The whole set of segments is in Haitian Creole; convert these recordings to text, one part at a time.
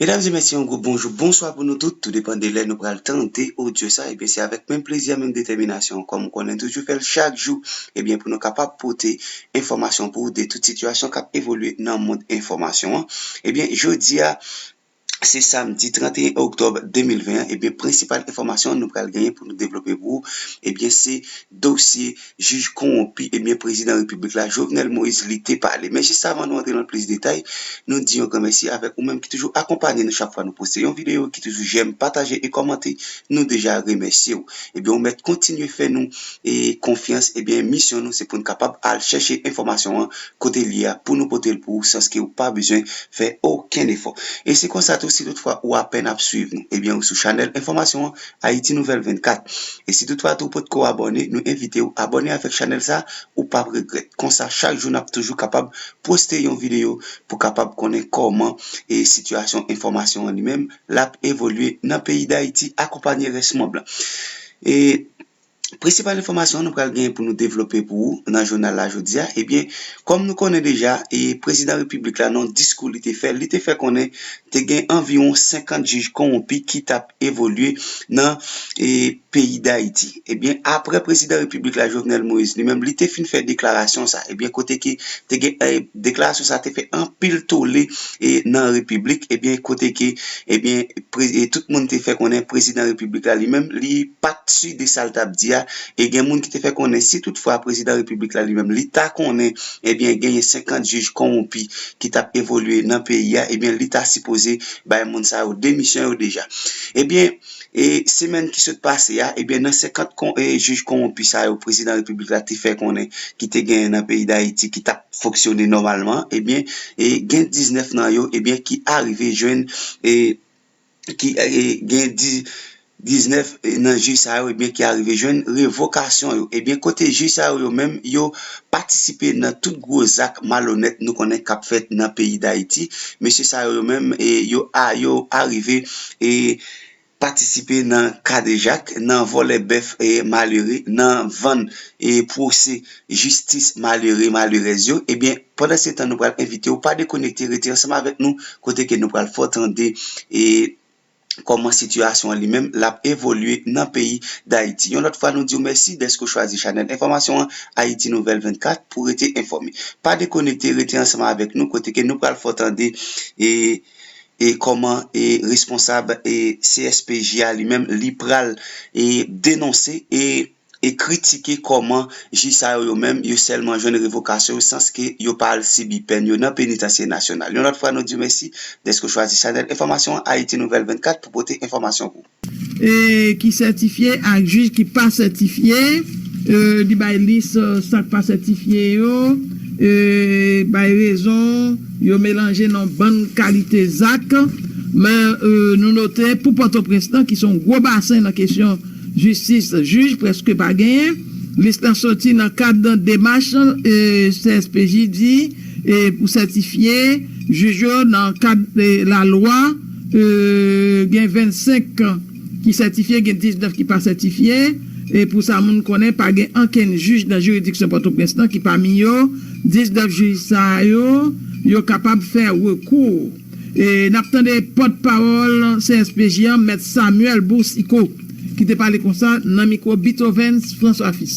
Medam e mesye yon gwo bonjou, bonswa pou nou tout, tou depan de lè nou pral tande odyo sa, ebyen se avèk menm plezi a menm detèminasyon kòm ou konnen toujou fèl chak jou, ebyen pou nou kapab pote enfòmasyon pou ou de tout sitiyasyon k ap evolye nan mond enfòmasyon an. Ebyen jodi a se samdi 31 oktòb 2020 an ebyen prensipal enfòmasyon nou pral genyen pou nou devlope pou ou ebyen se dosye jij konwonpi ebyen prezidan repiblik la Jovenel Moïse li te pale. Men jis avan nou antre nan plis detay nou di yon gran mèsi avèk ou menm ki toujou akonpanye nou chak fwa nou poste yon videyo ki toujou jèm, pataje e kòmante nou deja remèsye ou. Ebyen ou mèt kontinye fè nou. e konfyans ebyen misyon nou se poun kapab al chèche enfòmasyon an kotel ye a pou nou potel pou ou sanske ou pa bezwen fè okenn efò e se konsa tou si tout fwa ou apèn ap swiv nou ebyen ou sou chanèl enfòmasyon an Ayiti Nouvèl 24 e si tout fwa tou ou potko abòne nou envitew abòne avèk chanèl sa ou pap regrèt konsa chak jou nap toujou kapab poste yon videyo pou kapab konnen kòman e sitiyasyon enfòmasyon an li menm lap evolye nan peyi dayiti akonpanye rès mond lan e prensipal enfòmasyon nou pral gen pou nou devlope pou ou nan jounal la jodi a ebyen kòm nou konnen deja e prezidan repiblik la nan diskou li te fè li te fè konnen te gen anviwon 50 jij konwonpi ki tap evolye nan e. peyi dayiti ebyen aprè prezidan repiblik la jovenel moïse li menm li te fin fè deklarasyon sa ebyen kote ke te gen deklarasyon sa te fè anpil tole e nan repiblik ebyen kote ke ebyen e tout moun te fè konnen prezidan repiblik la li menm li pat si de sal tap di a e gen moun ki te fè konnen si tout fwa prezidan repiblik la li menm li ta konnen ebyen genyen 50 jij konwonpi ki tap evolye nan peyi a ebyen li ta sipoze bay moun sa yo demisyon yo deja ebyen E semèn ki sot pase a, ebyen nan 50 jij konwonpi sa yo prezidan repiblik la te fè konnen ki te genyen nan peyi Dayiti ki tap fonksyone nòmalman, ebyen gen 19 nan yo ebyen ki arive jwenn e ki gen 19 nan jij sa yo ebyen ki arive jwenn revokasyon yo. Ebyen kote jij sa yo yo menm yo patisipe nan tout gwo zak malonèt nou konnen kap fèt nan peyi Dayiti. Mesye sa yo yo menm yo arive e. patisipe nan kadejak, nan vòlè bèf malere, nan vann e pwose jistis malere, malerèz yo, ebyen pandan se tan nou pral envite ou pa dekonekte rete ansanm avèk nou kote ke nou pral fè w tande e kòman sitiyasyon an li menm l ap evolye nan peyi Dayiti. Yon lòt fwa nou di w mèsi dèske w chwazi chanèl enfòmasyon an Ayiti Nouvèl 24 pou w rete enfòme. Pa dekonekte rete ansanm avèk nou kote ke nou pral fè w tande e. e kòman e responsab e CSPJ a li menm li pral e denonse e e kritike kòman jij sa yo yo menm yo sèlman jwenn revokasyon yo sans ke yo pa al sibi pèn yo nan penitansye nasyonal. Yon lòt fwa nou diw mèsi dèske w chwazi chanèl enfòmasyon an Ayiti Nouvèl 24 pou pote enfòmasyon pou. ki sètifye ak jij ki pa sètifye, li bay lis sa k pa sètifye yo, bay rezon yo, melanje nan bann kalite zak. Men, nou note pou Pòtoprens lan, ki se yon gwo basen nan kesyon jistis, jij prèske pa genyen. Lis la soti nan kad demach CSPJ di pou sètifye jij yo nan kad lalwa. Gen 25 kan ki sètifye, gen 19 ki pa sètifye. E pou sa moun konnen, pa gen ankenn jij nan jiridiksyon Pòtoprens lan ki pami yo. 19 jij sa yo, yo kapab fè rekou. N ap tande pòt pawòl CSPJ an, mèt Samuel Boursiquot, ki te pale konsa nan mikwo Bitovens Francois Fils.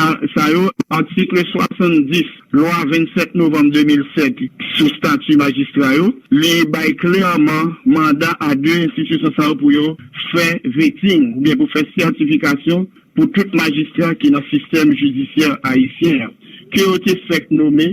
A sa yo, Atikl 70 Lwa 27 novanm 2007 sou stati majistra yo, li bay klèman manda a de enstitisyon sa yo pou yo fè veting oubyen pou fè sètifikasyon pou tout majistra ki nan sistèm jidisyè ayisyen an, ke yo te fèk nome,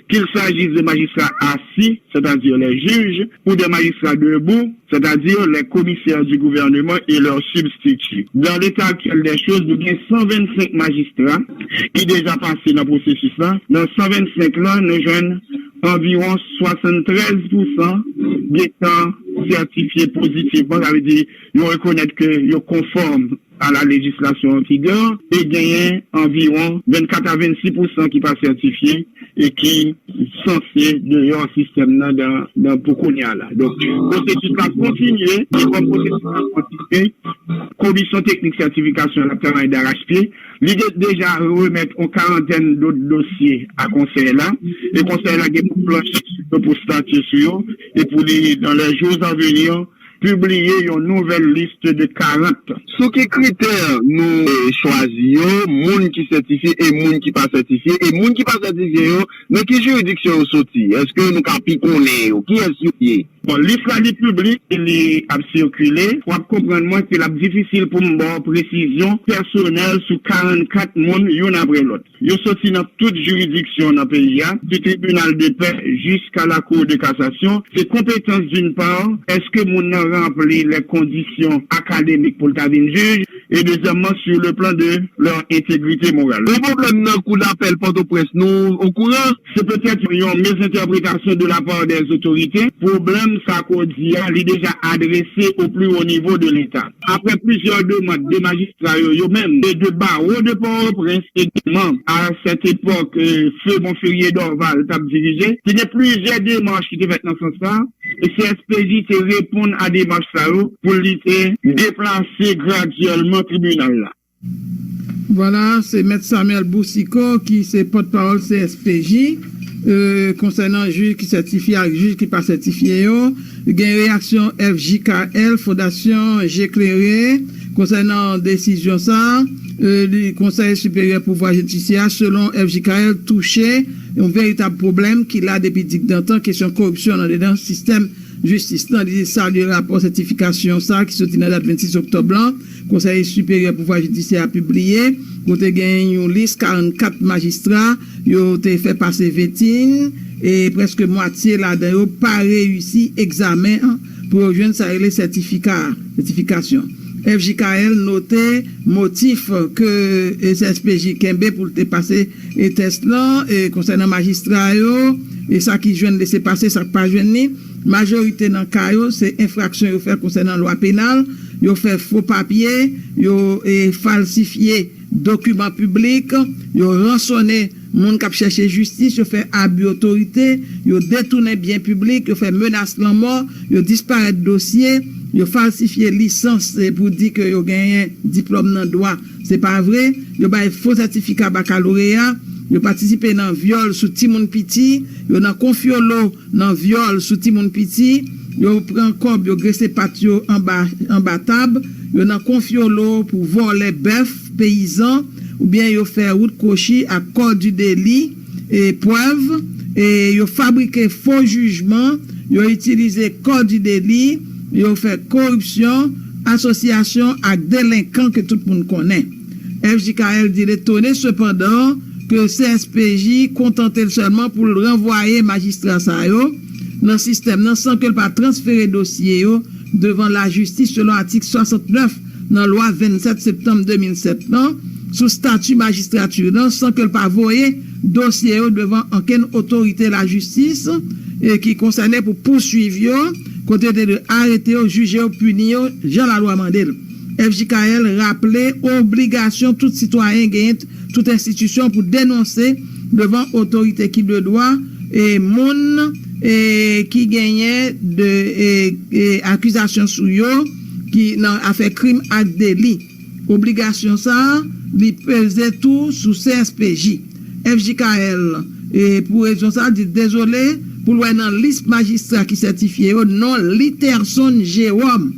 Kil saji de majistra assi, sètadi les juges, ou de majistra debou, sètadi les commissaires du gouvernement et leurs substituts. Dans l'état actuel des choses, nou gen 125 majistra ki deja pase nan pwosesis la. Nan 125 lan, nou jwenn anviwon 73 pou san gen tan sètifye pozitivman, sa vle di yo rekonèt ke yo konfòm A la lejislasyon an vigè, te genyen anviwon 24 a 26 pousan ki pa sètifye e ki sanse deyò sistèm nan nan pou kounye a la. Donk, pwosesis la ap kontinye e kòm pwosesis la ap kontinye, komisyon teknik sètifikasyon an ap travay darachpye. Li gen deja remèt yon karantèn dot dosye a konsèy la e konsèy la gen pou planche sou yo, pou statye sou yo e pou li, dan lè jours a venir, pibliye yon nouvèl liste de 40. Sou ki kritè nou chwazi yo, moun ki sètifye e moun ki pa sètifye, e moun ki pa sètifye yo, nan ki jiridiksyon yo soti? Eske nou ka pi konnen yo? Kiyès yo ye? Bon, lis la li piblik e li ap sikile. W ap konprann mwen ke l ap difisil pou m ba w presizyon pèsonèl sou 44 moun youn apre lòt. Yo soti nan tout jiridiksyon nan peyi a, ti tribinal de pè jiska la Cour de cassation. Se konpetans d'une part, eske moun nan ranpli les conditions académiques pou l ta vin jij, et deuxièmement sur le plan de leur intégrité morale. Yon pwoblèm nan kou dapèl Pòtoprens nou okouran? Se petèt yon mezentèpretasyon de la part des autorités, pwoblèm sa ke w di a, li deja adrese au plus haut niveau de l'Etat. Aprè plizyè demand de majistra yo, yo menm, e de Barreau de Port-au-Prince egalman, a cette époque, feu Monferrier Dorval t ap dirije, te gen plizyè demach ki te fèt nan sans sa, e CSPJ te reponn a demach sa yo pou li te deplase gradyèlman tribinal la. Vwala, se Mèt Samuel Boucicaut ki se pòtpawòl CSPJ. Konsènan jij ki sètifye ak jij ki pa sètifye yo, gen reyaksyon FJKL, Fondasyon Je Klere, konsènan desizyon sa a. Konsèy Siperyè Pouvwa Jidisyè a, selon FJKL, touche yon veritab pwoblèm ki la depi dikdantan, kesyon koripsyon andedan sistèm jistis lan. Li salye rapò sètifikasyon sa a ki soti nan dat 26 oktòb lan. Konsèy siperyè pouvwa jidisyè a pibliye kote gen yon lis 44 majistra yo te fè pase vetin e prèske mwatye ladan yo pa reyisi egzamen an pou yo jwenn sa rele sètifika a, sètifikasyon. FJKL note motif ke CSPJ kenbe pou l te pase tès lan konsènan majistra yo e sa ki jwenn lese pase, sa k pa jwenn li. Majorite nan ka yo, se enfraksyon yo fè konsènan lwa penal, yo fè fo papye, yo falsifye dokiman piblik, yo ransone moun k ap chèche jistis, yo fè abi otorite, yo detounen byen piblik, yo fè menas lanmò, yo disparèt dosye, yo falsifye lisans pou di ke yo genyen diplòm nan dwa, se pa vre, yo bay fo sètifika bakaloreya, yo patisipe nan vyòl sou timoun piti, yo nan konfyolo, nan vyòl sou timoun piti, yo pran kòb, yo grese pat yo anba anba tab, yo nan konfyolo pou vòlè bèf peyizan oubyen yo fè wout kwochi ak kò di deli e prèv e yo fabrike fo jijman, yo itilize kò di deli, yo fè koripsyon, asosyasyon ak delenkan ke tout moun konnen. FJKL di l etone sepandan ke CSPJ kontante l sèlman pou l ranvwaye majistra sa yo nan sistèm nan san ke l pa transfere dosye yo devan lajistis selon atik 69 nan lwa 27 septanm 2007 lan sou stati majistrati lan san ke l pa voye dosye yo devan ankenn otorite lajistis ki konsène pou pouswiv yo kote yo te dwe arete yo, jije yo, pini yo jan lalwa mande l. FJKL raple obligasyon tout sitwayen genyen tout enstitisyon pou denonse devan otorite ki de dwa e moun e ki genyen de e akizasyon sou yo ki nan afè krim ak deli. Obligasyon sa a li peze tou sou CSPJ. FJKL, pou rezon sa, di dezole pou l wè nan lis majistra ki sètifye yo non Literson Jérôme,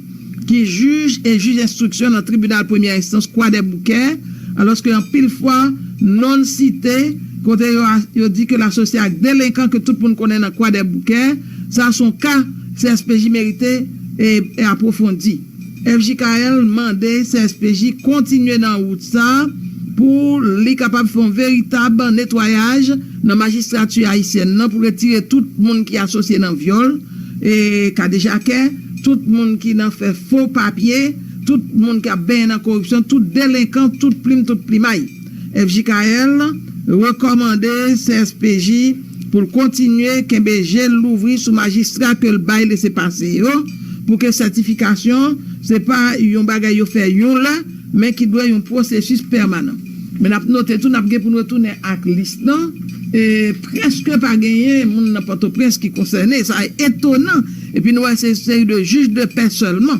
ki jij e jij enstriksyon nan tribinal premyè enstans Kwadèboukè, alòske anpil fwa non l site kote yo di ke l asosye ak delenkan ke tout moun konnen nan Kwadèboukè, sa s on ka CSPJ merite apwofondi. FJKL mande CSPJ kontinye nan wout sa pou li kapab fè yon veritab netwayaj nan majistrati ayisyèn nan pou retire tout moun ki asosye nan vyòl, kadejakè, tout moun ki nan fè fo papye, tout moun k ap benyen nan koripsyon, tout delenkan, tout plim, tout plimay. Fjkl rekòmande CSPJ pou l kontinye kenbe je l louvri sou majistra ke l bay lese pase yo pou ke sètifikasyon se pa yon bagay yo fè yon lè men ki dwe yon pwosesis pèmanan. Men n ap note tou n ap gen pou n retounen ak lis lan e prèske pa genyen moun nan Pòtoprens ki konsène. Sa etonan epi nou wè se yon seri de jij de pè sèlman.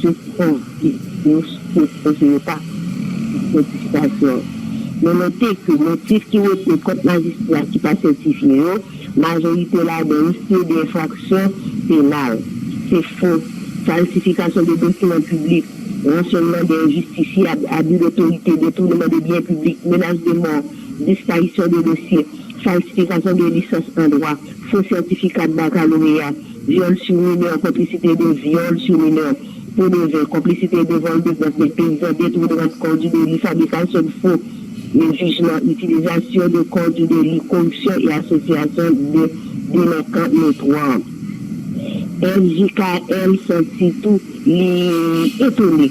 Se konte yo te poze yo pa fè diskasyon. Men note ke motif ki retni kont majistra ki pa sètifye yo, majorite ladan yo se de enfraksyon penal. Se fo, falsifikasyon de dokiman piblik, ransyonman de enjistisyab, abi dotorite, detounman de byen piblik, menas de mò, disparisyon de dosye, falsifikasyon de lisans an dwa, fo sètifika bakaloreya, Vyòl sou minè, konplisite de vyòl sou minè, po de zen, konplisite de vòl de bèf, bèk peyizan, detouneman kò di deli, fabrikasyon de fo de jijman, itilizasyon de kò di deli, koripsyon e asosyasyon de delenkan notwò. FJKL santi tou li etone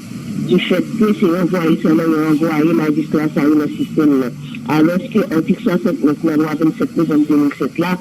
di fèt ke se ranvwaye sèlman yo ranvwaye majistra sa yo nan sistèm nan, alòske atik 69 nan lwa 27 novanm 2007 la,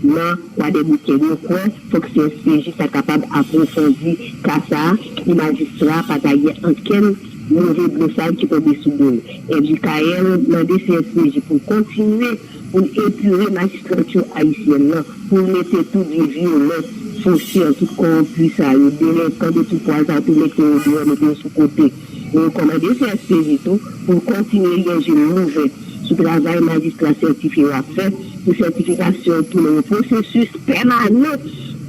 Nan Kwadèboukè, nou kwè fòk CSPJ ta kapab apwofondi ka sa a pou majistra a pa ta gen ankenn move blofal ki tonbe sou do l. MJKL mande CSPJ pou l kontinye pou l epure majistrati ayisyèn nan, pou l mete tout vye vyolè, fosè, tout kowonpi sa yo, delenkan de tout pwa sa yo, pou l mete yo deyò, mete yo sou kote. Li rekòmande CSPJ tou pou l kontinye gen je l louvè sou travay majistra sètifye yo ap fè pou sètifikasyon yo tounen yon pwosesis pèmanan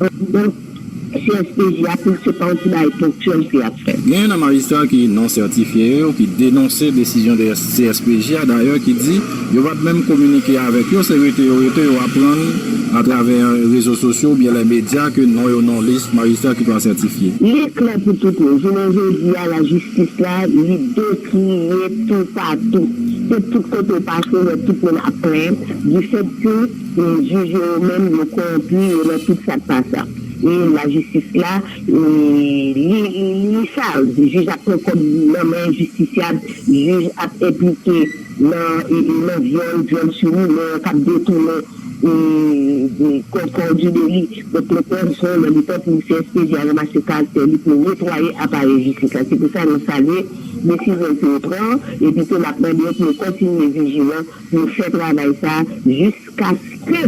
anndan CSPJ a pou l se pa yon ti bagay ponktyèl ke y ap fè. Genyen nan majistra ki non-sètifye yo ki denonse desizyon CSPJ a dayè ki di Yo pap menm kominike avèk yo, se rete yo rete, yo aprann atravè rezo sosyo oubyen lè medya ke non yo nan lis majistra ki dwa sètifye. Li klè pou tout moun, jounen jodi a lajistis la li dekline toupatou. Se tout kote w pase w wè tout moun ap plenn difèt ke jij yo yo menm yo kowonpi, yo nan tout sa k pa sa. E lajistis la li li sal, jij ap pran kòb nan men jistisyab, jij ap enplike. nan nan vyòl, vyòl sou minè k ap detounen kò kò di de li. Donk le pwèv son lè li tan pou CSPJ a ranmase karaktè li pou netwaye aparèy jistis la. Se pou sa nou salye desizyon ke yo pran epi tou n ap mande yo pou yo kontinye vijilan pou yo fè travay sa jis Paske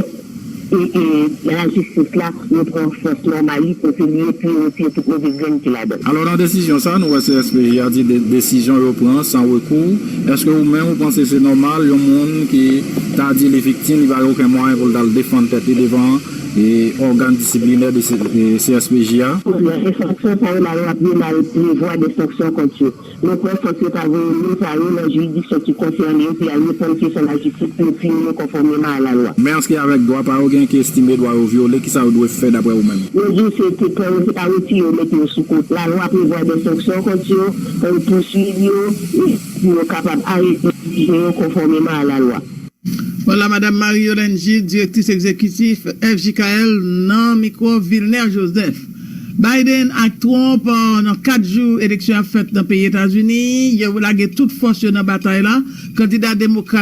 e lajistis la repran fòs nòmal li kote li epi yo retire tout move grenn ki ladan l. Alò nan desizyon sa nou wè CSPJ a di desizyon yo pran san rekou, eske ou menm ou panse se nòmal yon moun ki ta di li viktim li pa gen oken mwayen pou l ta al defann tèt li devan ògàn disiplinè CSPJ a? Kounye a, enfraksyon sa yo lalwa penal prevwa de sanksyon kont yo. Mwen kwè fòk yo ta voye moun sa yo nan jiridiksyon ki konsène yo pou y al reponn kesyon lajistis pou yo pini yo konfòmeman a lalwa. Men anske avèk dwa pa yo gen ki estime dwa yo vyole kisa yo dwe fè daprè ou menm? Mwen di w se te pran yo se pa retire yo mete yo sou kote. Lalwa prevwa dè sanksyon kont yo, pou yo pouswiv yo e pou yo kapab arete yo jije yo konfòmeman a lalwa. Wòla Madam Marie Yolène Gilles, Direktris Egzekitif FJKL nan mikwo Vilner Joseph. Biden ak Trump nan 4 jou eleksyon ap fèt nan peyi Etazini, yo lage tout fòs yo nan batay la, kandida demokrat.